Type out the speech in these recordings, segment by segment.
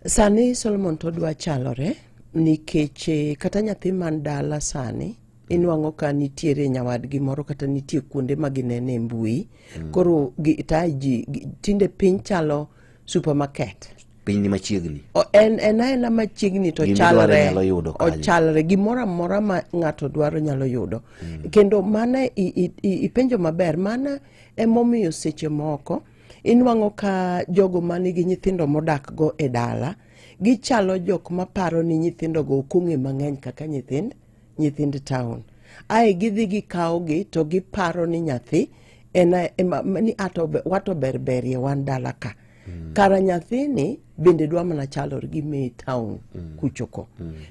Sani Solomon to dwa chalore nikech eh, kata nyathi man dala sani inwang'o ka nitiere nyawadgi moro kata nitie kuonde ma ginene mbui mm. koro taji tinde piny chalo supermarket piny ni machiegni en en aena machiegni to chalre ochalre gimoro amora ma ng'ato dwaro nyalo yudo mm. kendo mana ipenjo maber mana emomiyo seche moko Inwang'o ka jogo ma nigi nyithindo modakgo e dala gichalo jok ma paro ni nyithindogo ok ong'e mang'eny kaka nyithind nyithind town. Ae gidhi gikawogi to giparo ni nyathi en a- ema- ni ato be- wato berberie wan dala ka. Kara nyathini bende dwa mana chalore gi me town kuchoko.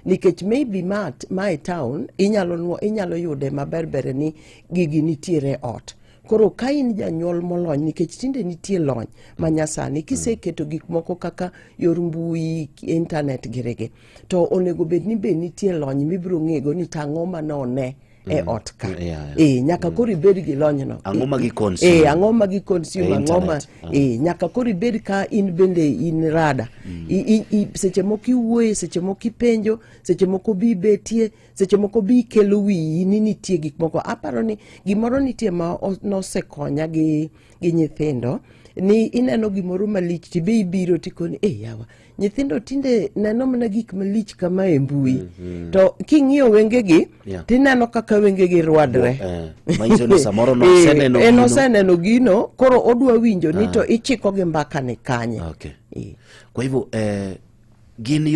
Nikech maybe ma, ma e town inyalo, nwo- inyalo yude maberbere ni gigi nitiere e ot. koro ka in janyuol molony nikech tinde nitie lony ma nyasani kiseketo mm. gik moko kaka yor mbui intanet girege to onego bed ni be nitie lony mibiro ng'ego ni tang'o ma none e mm. ot ka e nyaka mm. koro ibed gi lonyno ang'o ma giconsume e, ang'o ma giconsume e, ang'o ma ah. e nyaka koro ibed ka in bende in rada mm. seche moko iwuoye seche moko ipenjo seche moko bi betie seche moko bi kelo wiyi ni nitie gik moko aparo ni gimoro nitie ma nosekonya gi, gi nyithindo ni ineno gimoro malich tibe ibiro tikoni e eh, yawa nyithindo tinde neno mana gik malich kama e mbui mm -hmm. to king'iyo wengegi yeah. tineno kaka wengegi rwadre eh, eh, en oseneno gino koro odwa winjo ni ah. to ichiko gi mbakani kanye okay. yeah. kwa hivyo eh, gin